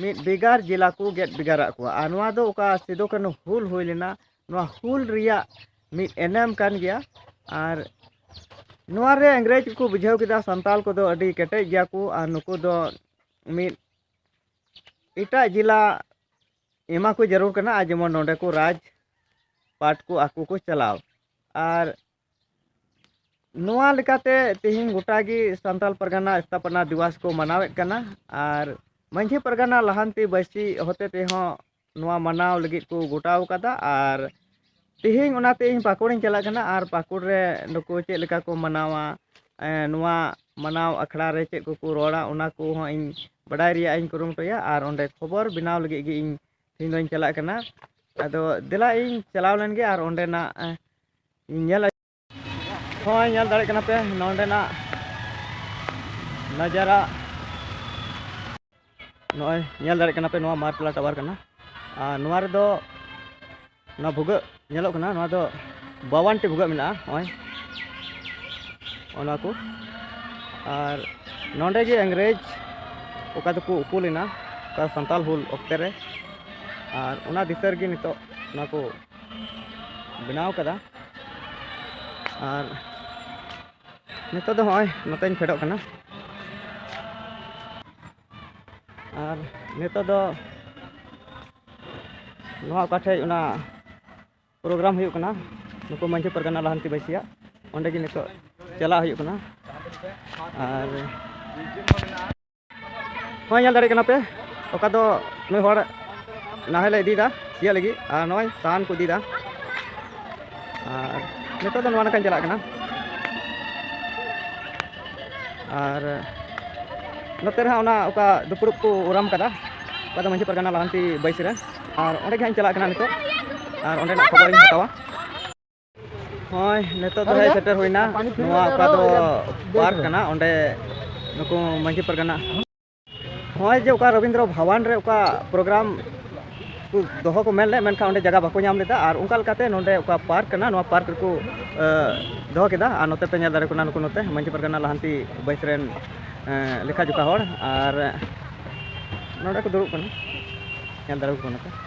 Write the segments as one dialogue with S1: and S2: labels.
S1: ᱢᱤᱫ ᱵᱷᱮᱜᱟᱨ ᱡᱮᱞᱟ ᱠᱚ ᱜᱮᱫ ᱵᱷᱮᱜᱟᱨᱟᱜ ᱠᱚᱣᱟ ᱟᱨ ᱱᱚᱣᱟ ᱫᱚ ᱚᱠᱟ ᱥᱤᱫᱩ ᱠᱟᱹᱱᱦᱩ ᱦᱩᱞ ᱦᱩᱭ ᱞᱮᱱᱟ ᱱᱚᱣᱟ ᱦᱩᱞ ᱨᱮᱭᱟᱜ ᱢᱤᱫ ᱮᱱᱮᱢ ᱠᱟᱱ ᱜᱮᱭᱟ ᱟᱨ ᱱᱚᱣᱟ ᱨᱮ ᱤᱝᱨᱮᱡᱽ ᱠᱚ ᱵᱩᱡᱷᱟᱹᱣ ᱠᱮᱫᱟ ᱥᱟᱱᱛᱟᱞ ᱠᱚᱫᱚ ᱟᱹᱰᱤ ᱠᱮᱴᱮᱡ ᱜᱮᱭᱟ ᱠᱚ ᱟᱨ ᱱᱩᱠᱩ ᱫᱚ ᱢᱤᱫ ᱮᱴᱟᱜ ᱡᱮᱞᱟ ᱮᱢᱟ ᱠᱚ ᱡᱟᱹᱨᱩᱲ ᱠᱟᱱᱟ ᱟᱨ ᱡᱮᱢᱚᱱ ᱱᱚᱰᱮ ᱠᱚ ᱨᱟᱡᱽ ᱯᱟᱴ ᱠᱚ ᱟᱠᱚ ᱠᱚ ᱪᱟᱞᱟᱣ ᱟᱨ ᱱᱚᱣᱟ ᱞᱮᱠᱟᱛᱮ ᱛᱮᱦᱮᱧ ᱜᱚᱴᱟ ᱜᱮ ᱥᱟᱱᱛᱟᱲ ᱯᱟᱨᱜᱟᱱᱟ ᱥᱛᱷᱟᱯᱚᱱᱟ ᱫᱤᱵᱚᱥ ᱠᱚ ᱢᱟᱱᱟᱣᱮᱫ ᱠᱟᱱᱟ ᱟᱨ ᱢᱟᱺᱡᱷᱤ ᱯᱟᱨᱜᱟᱱᱟ ᱞᱟᱦᱟᱱᱛᱤ ᱵᱟᱹᱭᱥᱤ ᱦᱚᱛᱮ ᱛᱮᱦᱚᱸ ᱱᱚᱣᱟ ᱢᱟᱱᱟᱣ ᱞᱟᱹᱜᱤᱫ ᱠᱚ ᱜᱚᱴᱟᱣ ᱠᱟᱫᱟ ᱟᱨ ᱛᱮᱦᱮᱧ ᱚᱱᱟᱛᱮ ᱤᱧ ᱯᱟᱹᱠᱩᱲᱤᱧ ᱪᱟᱞᱟᱜ ᱠᱟᱱᱟ ᱟᱨ ᱯᱟᱹᱠᱩᱲ ᱨᱮ ᱱᱩᱠᱩ ᱪᱮᱫ ᱞᱮᱠᱟ ᱠᱚ ᱢᱟᱱᱟᱣᱟ ᱱᱚᱣᱟ ᱢᱟᱱᱟᱣ ᱟᱠᱷᱲᱟ ᱨᱮ ᱪᱮᱫ ᱠᱚᱠᱚ ᱨᱚᱲᱟ ᱚᱱᱟ ᱠᱚᱦᱚᱸ ᱤᱧ ᱵᱟᱰᱟᱭ ᱨᱮᱭᱟᱜ ᱤᱧ ᱠᱩᱨᱩᱢᱩᱴᱩᱭᱟ ᱟᱨ ᱚᱸᱰᱮ ᱠᱷᱚᱵᱚᱨ ᱵᱮᱱᱟᱣ ᱞᱟᱹᱜᱤᱫ ᱜᱮ ᱤᱧ ᱛᱮᱦᱮᱧ ᱫᱚᱧ ᱪᱟᱞᱟᱜ ᱠᱟᱱᱟ ᱟᱫᱚ ᱫᱮᱞᱟ ᱤᱧ ᱪᱟᱞᱟᱣ ᱞᱮᱱᱜᱮ ᱟᱨ ᱚᱸᱰᱮᱱᱟᱜ ᱧᱮᱞ ᱦᱳᱭ ᱧᱮᱞ ᱫᱟᱲᱮᱭᱟᱜ ᱠᱟᱱᱟ ᱯᱮ ᱱᱚᱰᱮᱱᱟᱜ ᱱᱟᱡᱟᱨᱟ ᱱᱚᱜᱼᱚᱭ ᱧᱮᱞ ᱫᱟᱲᱮᱭᱟᱜ ᱠᱟᱱᱟ ᱯᱮ ᱱᱚᱣᱟ ᱢᱟᱨᱯᱞᱟ ᱴᱟᱣᱟᱨ ᱠᱟᱱᱟ ᱟᱨ ᱱᱚᱣᱟ ᱨᱮᱫᱚ ᱱᱚᱣᱟ ᱵᱷᱩᱜᱟᱹᱜ ᱧᱮᱞᱚᱜ ᱠᱟᱱᱟ ᱱᱚᱣᱟ ᱫᱚ ᱵᱟᱣᱟᱱ ᱴᱤ ᱵᱷᱩᱜᱟᱹᱜ ᱢᱮᱱᱟᱜᱼᱟ ᱱᱚᱜᱼᱚᱭ ᱚᱱᱟ ᱠᱚ ᱟᱨ ᱱᱚᱰᱮ ᱜᱮ ᱤᱝᱨᱮᱡᱽ ᱚᱠᱟ ᱫᱚᱠᱚ ᱩᱠᱩ ᱞᱮᱱᱟ ᱚᱠᱟ ᱥᱟᱱᱛᱟᱞ ᱦᱩᱞ ᱚᱠᱛᱮ ᱨᱮ ᱟᱨ ᱚᱱᱟ ᱫᱤᱥᱟᱹ ᱨᱮᱜᱮ ᱱᱤᱛᱚᱜ ᱱᱚᱣᱟ ᱠᱚ ᱵᱮᱱᱟᱣ ᱠᱟᱫᱟ ᱟᱨ ᱱᱤᱛᱚᱜ ᱫᱚ ᱦᱚᱸᱜᱼᱚᱭ ᱱᱚᱛᱮᱧ ᱯᱷᱮᱰᱚᱜ ᱠᱟᱱᱟ ᱟᱨ ᱱᱤᱛᱚᱜ ᱫᱚ ᱱᱚᱣᱟ ᱚᱠᱟ ᱴᱷᱮᱡ ᱚᱱᱟ ᱯᱨᱳᱜᱨᱟᱢ ᱦᱩᱭᱩᱜ ᱠᱟᱱᱟ ᱱᱩᱠᱩ ᱢᱟᱹᱡᱷᱤ ᱯᱟᱨᱜᱟᱱᱟ ᱞᱟᱦᱟᱱᱛᱤ ᱵᱟᱹᱭᱥᱤᱭᱟᱜ ᱚᱸᱰᱮ ᱜᱮ ᱱᱤᱛᱚᱜ ᱪᱟᱞᱟᱜ ᱦᱩᱭᱩᱜ ᱠᱟᱱᱟ ᱟᱨ ᱱᱚᱜᱼᱚᱭ ᱧᱮᱞ ᱫᱟᱲᱮᱭᱟᱜ ᱠᱟᱱᱟ ᱯᱮ ᱚᱠᱟ ᱫᱚ ᱱᱩᱭ ᱦᱚᱲ ᱱᱟᱦᱮᱞ ᱮ ᱤᱫᱤᱭᱮᱫᱟ ᱥᱤᱭᱟᱹᱜ ᱞᱟᱹᱜᱤᱫ ᱟᱨ ᱱᱚᱜᱼᱚᱭ ᱥᱟᱦᱟᱱ ᱠᱚ ᱤᱫᱤᱭᱮᱫᱟ ᱟᱨ ᱱᱤᱛᱚᱜ ᱫᱚ ᱱᱚᱣᱟ ᱱᱟᱠᱷᱟᱧ ᱪᱟᱞᱟᱜ ᱠᱟᱱᱟ ᱟᱨ ᱱᱚᱛᱮ ᱨᱮᱦᱟᱸᱜ ᱚᱱᱟ ᱚᱠᱟ ᱫᱩᱯᱲᱩᱵ ᱠᱚ ᱩᱨᱟᱢ ᱠᱟᱫᱟ ᱚᱠᱟ ᱫᱚ ᱢᱟᱹᱡᱷᱤ ᱯᱟᱨᱜᱟᱱᱟ ᱞᱟᱦᱟᱱᱛᱤ ᱵᱟᱹᱭᱥᱤ ᱨᱮ ᱟᱨ ᱚᱸᱰᱮ ᱜᱮ ᱦᱟᱸᱜ ᱤᱧ ᱪᱟᱞᱟᱜ ᱠᱟᱱᱟ ᱱᱤᱛᱚᱜ ᱟᱨ ᱚᱸᱰᱮᱱᱟᱜ ᱠᱷᱚᱵᱚᱨᱤᱧ ᱦᱟᱛᱟᱣᱟ ᱦᱳᱭ ᱱᱤᱛᱚᱜ ᱫᱚ ᱥᱮᱴᱮᱨ ᱦᱩᱭᱱᱟ ᱱᱚᱣᱟ ᱚᱠᱟ ᱫᱚ ᱯᱟᱨᱠ ᱠᱟᱱᱟ ᱚᱸᱰᱮ ᱱᱩᱠᱩ ᱢᱟᱹᱡᱷᱤ ᱯᱟᱨᱜᱟᱱᱟ ᱦᱳᱭ ᱡᱮ ᱚᱠᱟ ᱨᱚᱵᱤᱱᱫᱨᱚ ᱵᱷᱟᱵᱟᱱ ᱨᱮ ᱚᱠᱟ ᱯᱨᱳᱜᱨᱟᱢ ᱠᱚ ᱫᱚᱦᱚ ᱠᱚ ᱢᱮᱱ ᱞᱮᱫ ᱢᱮᱱᱠᱷᱟᱱ ᱚᱸᱰᱮ ᱡᱟᱭᱜᱟ ᱵᱟᱠᱚ ᱧᱟᱢ ᱞᱮᱫᱟ ᱟᱨ ᱚᱱᱠᱟ ᱞᱮᱠᱟᱛᱮ ᱱᱚᱸᱰᱮ ᱚᱠᱟ ᱯᱟᱨᱠ ᱠᱟᱱᱟ ᱱᱚᱣᱟ ᱯᱟᱨᱠ ᱨᱮᱠᱚ ᱫᱚᱦᱚ ᱠᱮᱫᱟ ᱟᱨ ᱱᱚᱛᱮ ᱯᱮ ᱧᱮᱞ ᱫᱟᱲᱮ ᱠᱟᱱᱟ ᱱᱩᱠᱩ ᱱᱚᱛᱮ ᱢᱟᱹᱡᱷᱤ ᱯᱟᱨᱜᱟᱱᱟ ᱞᱟᱦᱟᱱᱛᱤ ᱵᱟᱹᱭᱥ ᱨᱮᱱ ᱞᱮᱠᱷᱟ ᱡᱚᱠᱷᱟ ᱦᱚᱲ ᱟᱨ ᱱᱚᱸᱰᱮ ᱠᱚ ᱫᱩᱲᱩᱵ ᱠᱟᱱᱟ ᱧᱮᱞ ᱫᱟᱲᱮ ᱠᱚ ᱠᱟᱱᱟ ᱯᱮ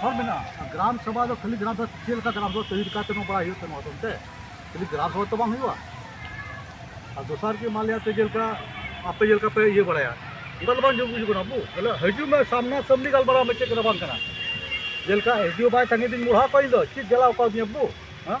S2: ᱦᱚᱲ ᱢᱮᱱᱟᱜᱼᱟ ᱜᱨᱟᱢ ᱥᱚᱵᱷᱟ ᱫᱚ ᱠᱷᱟᱹᱞᱤ ᱜᱨᱟᱢ ᱥᱚᱵᱷᱟ ᱪᱮᱫ ᱞᱮᱠᱟ ᱜᱨᱟᱢ ᱥᱚᱵᱷᱟ ᱛᱟᱹᱭᱨᱤ ᱠᱟᱛᱮ ᱱᱚᱣᱟ ᱵᱟᱲᱟᱭ ᱦᱩᱭᱩᱜ ᱛᱟᱢᱟ ᱛᱮ ᱠᱷᱟᱹᱞᱤ ᱜᱨᱟᱢ ᱥᱚᱵᱷᱟ ᱛᱚ ᱵᱟᱝ ᱦᱩᱭᱩᱜᱼᱟ ᱟᱨ ᱫᱚᱥᱟᱨ ᱜᱮ ᱢᱟᱱ ᱞᱤᱭᱟ ᱛᱮ ᱡᱮᱞᱮᱠᱟ ᱟᱯᱮ ᱡᱮᱞᱮᱠᱟ ᱯᱮ ᱤᱭᱟᱹ ᱵᱟᱲᱟᱭᱟ ᱚᱱᱠᱟ ᱫᱚ ᱵᱟᱝ ᱡᱚᱢ ᱵᱩᱡᱩᱜ ᱠᱟᱱᱟ ᱟᱵᱚ ᱵᱚᱞᱮ ᱦᱤᱡᱩᱜ ᱢᱮ ᱥᱟᱢᱱᱟ ᱥᱟᱢᱱᱤ ᱜᱟᱞᱢᱟᱨᱟᱣ ᱢᱮ ᱪᱮᱫ ᱠᱟᱱᱟ ᱵᱟᱝ ᱠᱟᱱᱟ ᱡᱮᱞᱮᱠᱟ ᱦᱤᱡᱩᱜ ᱵᱟᱭ ᱛᱟᱺᱜᱤ ᱫᱤᱧ ᱢᱚᱲᱦᱟ ᱠᱚᱣᱟ ᱤᱧ ᱫᱚ ᱪᱮᱫ ᱡᱟᱞᱟ ᱟᱠᱟᱫᱤᱧᱟ ᱵᱟᱹᱵᱩ ᱦᱮᱸ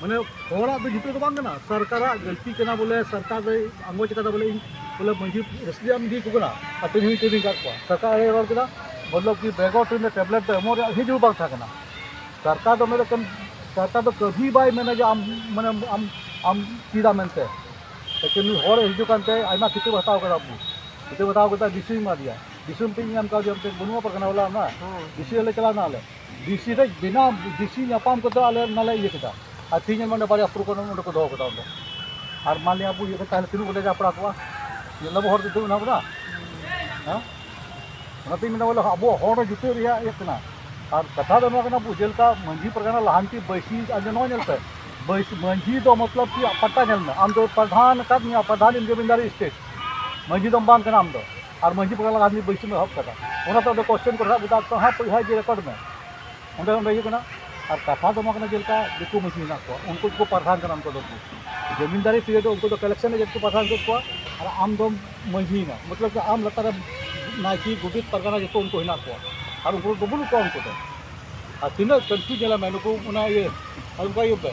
S2: ᱢᱟᱱᱮ ᱦᱚᱲᱟᱜ ᱫᱚ ᱡᱤᱛᱟᱹᱣ ᱫᱚ ᱵᱟᱝ ᱠᱟᱱᱟ ᱥᱚᱨᱠᱟᱨᱟᱜ ᱜᱟᱹᱞᱛᱤ ᱠᱟᱱᱟ ᱵᱚᱞᱮ ᱥᱚᱨᱠᱟᱨ ᱫᱚᱭ ᱟᱸᱜᱚᱪ ᱠᱟᱫᱟ ᱵᱚᱞᱮ ᱤᱧ ᱵᱚᱞᱮ ᱢᱟᱺᱡᱷᱤ ᱨᱮᱥᱤᱰᱮᱱᱴ ᱤᱫᱤ ᱠᱚ ᱠᱟᱱᱟ ᱟᱨ ᱛᱮᱦᱮᱧ ᱦᱚᱸ ᱤᱫᱤ ᱠᱟᱜ ᱠᱚᱣᱟ ᱥᱚᱨᱠᱟᱨ ᱮᱲᱮ ᱨᱚᱲ ᱠᱮᱫᱟ ᱢᱚᱛᱞᱚᱵ ᱠᱤ ᱵᱮᱜᱚᱨ ᱴᱨᱮᱱ ᱨᱮ ᱴᱮᱵᱞᱮᱴ ᱫᱚ ᱮᱢᱚᱜ ᱨᱮᱭᱟᱜ ᱦᱤᱡ ᱦᱚᱸ ᱵᱟᱝ ᱛᱟᱦᱮᱸ ᱠᱟᱱᱟ ᱥᱚᱨᱠᱟᱨ ᱫᱚ ᱢᱮᱱᱮᱫ ᱠᱟᱱ ᱥᱚᱨᱠᱟᱨ ᱫᱚ ᱠᱟᱹᱵᱷᱤ ᱵᱟᱭ ᱢᱮᱱᱟ ᱡᱮ ᱟᱢ ᱢᱟᱱᱮ ᱟᱢ ᱟᱢ ᱪᱮᱫᱟ ᱢᱮᱱᱛᱮ ᱞᱮᱠᱤᱱ ᱱᱩᱭ ᱦᱚᱲ ᱦᱤᱡᱩᱜ ᱠᱟᱱᱛᱮ ᱟᱭᱢᱟ ᱠᱷᱤᱛᱟᱹᱵ ᱦᱟᱛᱟᱣ ᱠᱟᱫᱟ ᱟᱵᱚ ᱠᱷᱤᱛᱟᱹᱵ ᱦᱟᱛᱟᱣ ᱠᱟᱛᱮ ᱰᱤᱥᱤ ᱮᱢᱟᱫᱮᱭᱟ ᱰᱤᱥᱤ ᱢᱤᱫᱴᱮᱡ ᱧᱟᱢ ᱠᱟᱣᱫᱮᱭᱟ ᱢᱤᱫᱴᱮᱡ ᱵᱟᱹᱱᱩᱜᱼᱟ ᱯᱟᱨᱜᱟᱱᱟ ᱵᱟᱞᱟ ᱚᱱᱟ ᱰᱤᱥᱤ ᱚᱲᱟᱜ ᱞᱮ ᱪᱟᱞᱟᱣᱱᱟ ᱟᱞᱮ ᱰᱤᱥᱤ ᱨᱮ ᱵᱤᱱᱟ ᱰᱤᱥᱤ ᱧᱟᱯᱟᱢ ᱠᱟᱛᱮ ᱟᱞᱮ ᱚᱱᱟᱞᱮ ᱤᱭᱟᱹ ᱠᱮᱫᱟ ᱟᱨ ᱛᱮᱦᱮᱧ ᱚᱸᱰᱮ ᱵᱟᱨᱭᱟ ᱯᱨᱳᱜᱨᱟᱢ ᱚᱸᱰᱮ ᱠᱚ ᱫᱚᱦᱚ ᱠᱮᱫᱟ ᱚᱸᱰᱮ ᱟᱨ ᱢᱟᱱ ᱞᱤᱭᱟ ᱟᱵᱚ ᱤᱭᱟᱹ ᱠᱚ ᱛᱟᱦᱮᱱᱟ ᱛᱤᱱᱟᱹᱜ ᱵᱚᱱ ᱞᱟᱡᱟᱣ ᱯᱟᱲᱟᱣ ᱠᱚᱜᱼᱟ ᱧᱮᱞ ᱫᱟᱵᱚ ᱦᱚᱲ ᱫᱤᱥᱟᱹ ᱢᱮᱱᱟᱜ ᱵᱚᱱᱟ ᱦᱮᱸ ᱚᱱᱟᱛᱤᱧ ᱢᱮᱱᱟ ᱵᱚᱞᱮ ᱟᱵᱚ ᱦᱚᱲ ᱡᱩᱴᱟᱹᱜ ᱨᱮᱭᱟᱜ ᱤᱭᱟᱹ ᱠᱟᱱᱟ ᱟᱨ ᱠᱟᱛᱷᱟ ᱫᱚ ᱱᱚᱣᱟ ᱠᱟᱱᱟ ᱟᱵᱚ ᱡᱮᱞᱮᱠᱟ ᱢᱟᱹᱡᱷᱤ ᱯᱟᱨᱜᱟᱱᱟ ᱞᱟᱦᱟᱱᱛᱤ ᱵᱟᱹᱭᱥᱤ ᱟᱨ ᱱᱚᱣᱟ ᱧᱮᱞ ᱯᱮ ᱵᱟᱹᱭᱥᱤ ᱢᱟᱹᱡᱷᱤ ᱫᱚ ᱢᱚᱛᱞᱚᱵ ᱠᱤ ᱯᱟᱴᱟ ᱧᱮᱞ ᱢᱮ ᱟᱢ ᱫᱚ ᱯᱨᱚᱫᱷᱟᱱ ᱟᱠᱟᱫ ᱢᱮᱭᱟ ᱯᱨᱚᱫᱷᱟᱱ ᱤᱱ ᱡᱚᱢᱤᱱᱫᱟᱨᱤ ᱥᱴᱮᱴ ᱢᱟᱹᱡᱷᱤ ᱫᱚ ᱵᱟᱝ ᱠᱟᱱᱟ ᱟᱢ ᱫᱚ ᱟᱨ ᱢᱟᱹᱡᱷᱤ ᱯᱟᱲᱟ ᱞᱟᱜᱟ ᱫᱷᱟᱹᱵᱤᱡ ᱵᱟᱹᱭᱥᱤᱢ ᱮᱦᱚᱵ ᱠᱟᱫᱟ ᱚᱱᱟᱛᱮ ᱚᱸᱰᱮ ᱠᱚᱥᱪᱮᱱ ᱠᱚ ᱨᱟᱠᱟᱵ ᱠᱮᱫᱟ ᱛᱚ ᱦᱟᱸᱜ ᱯᱚᱭᱥᱟ ᱤᱫᱤ ᱨᱮᱠᱚᱨᱰ ᱢᱮ ᱚᱸᱰᱮ ᱚᱸᱰᱮ ᱦᱩᱭᱩᱜ ᱠᱟᱱᱟ ᱟᱨ ᱠᱟᱛᱷᱟ ᱫᱚ ᱱᱚᱣᱟ ᱠᱟᱱᱟ ᱡᱮᱞᱮᱠᱟ ᱫᱤᱠᱩ ᱢᱟᱹᱡᱷᱤ ᱢᱮᱱᱟᱜ ᱠᱚᱣᱟ ᱩᱱᱠᱩ ᱫᱚᱠᱚ ᱯᱟᱨᱫᱷᱟᱱ ᱠᱟᱱᱟ ᱩᱱᱠᱩ ᱫᱚ ᱡᱚᱢᱤᱱᱫᱟᱨᱤ ᱯᱤᱨᱤᱭᱚᱰ ᱩᱱᱠᱩ ᱫᱚ ᱠᱟᱞᱮᱠᱥᱚᱱ ᱮᱡᱮᱱᱴ ᱠᱚ ᱯᱟᱨᱫᱷᱟᱱ ᱠᱮᱫ ᱠᱚᱣᱟ ᱟᱨ ᱟᱢ ᱫᱚᱢ ᱢᱟᱹᱡᱷᱤᱭᱮᱱᱟ ᱢᱚᱛᱞᱚᱵ ᱟᱢ ᱞᱟᱛᱟᱨ ᱨᱮ ᱱᱟᱭᱠᱮ ᱜᱚᱰᱮᱛ ᱯᱟᱨᱜᱟᱱᱟ ᱡᱚᱛᱚ ᱩᱱᱠᱩ ᱦᱮᱱᱟᱜ ᱠᱚᱣᱟ ᱟᱨ ᱩᱱᱠᱩ ᱫᱚ ᱵᱟᱹᱱᱩᱜ ᱠᱚᱣᱟ ᱩᱱᱠᱩ ᱫᱚ ᱟᱨ ᱛᱤᱱᱟᱹᱜ ᱠᱚᱱᱯᱷᱤᱭᱩᱡᱽ ᱧᱮᱞᱮᱢᱮ ᱱᱩᱠᱩ ᱚᱱᱟ ᱤᱭᱟᱹ ᱟᱨ ᱚᱱᱠᱟ ᱤᱭᱟᱹ ᱯᱮ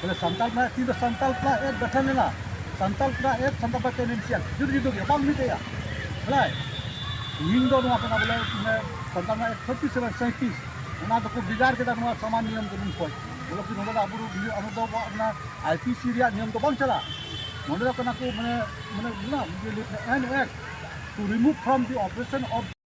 S2: ᱵᱚᱞᱮ ᱥᱟᱱᱛᱟᱲ ᱠᱚᱲᱟ ᱛᱤ ᱫᱚ ᱥᱟᱱᱛᱟᱲ ᱠᱚᱲᱟ ᱮᱠ ᱜᱚᱴᱷᱚᱱ ᱞᱮᱱᱟ ᱥᱟᱱᱛᱟᱲ ᱠᱚᱲᱟ ᱮᱠ ᱥᱟᱱᱛᱟᱲ ᱯᱟᱨᱴᱤ ᱨᱮᱱ ᱥᱤᱭᱟᱱ ᱡᱩᱫᱟᱹ ᱡᱩᱫᱟᱹ ᱜᱮ ᱵᱟᱝ ᱢᱤᱫᱮᱜᱼᱟ ᱵᱚᱞᱮ ᱤᱧ ᱫᱚ ᱱᱚᱣᱟ ᱠᱟᱱᱟ ᱵᱚᱞᱮ ᱥᱟᱱᱛᱟᱲ ᱨᱮᱱᱟᱜ ᱛᱷᱟᱨᱴᱤ ᱥᱮᱵᱷᱮᱱ ᱥᱟᱸᱭᱛᱨᱤᱥ ᱚᱱᱟ ᱫᱚᱠᱚ ᱵᱷᱮᱜᱟᱨ ᱠᱮᱫᱟ ᱱᱚᱣᱟ ᱥᱟᱢᱟᱱ ᱱᱤᱭᱚᱢ ᱠᱟᱹᱱᱩᱱ ᱠᱷᱚᱱ ᱵᱚᱞᱮ ᱠᱤ ᱱᱚᱰᱮ ᱫᱚ ᱟᱵᱚ ᱫᱚ ᱟᱵᱚ ᱫᱚ ᱚᱱᱟ ᱟᱭ ᱯᱤ ᱥᱤ ᱨᱮᱭᱟᱜ ᱱᱤᱭᱚᱢ ᱫᱚ ᱵᱟᱝ ᱪᱟᱞᱟᱜᱼᱟ ᱱᱚᱰᱮ ᱫᱚ ᱠᱟᱱᱟ ᱠᱚ ᱢᱟᱱᱮ ᱢᱟᱱᱮ ᱢᱮᱱᱟᱜᱼᱟ an act to remove from the operation of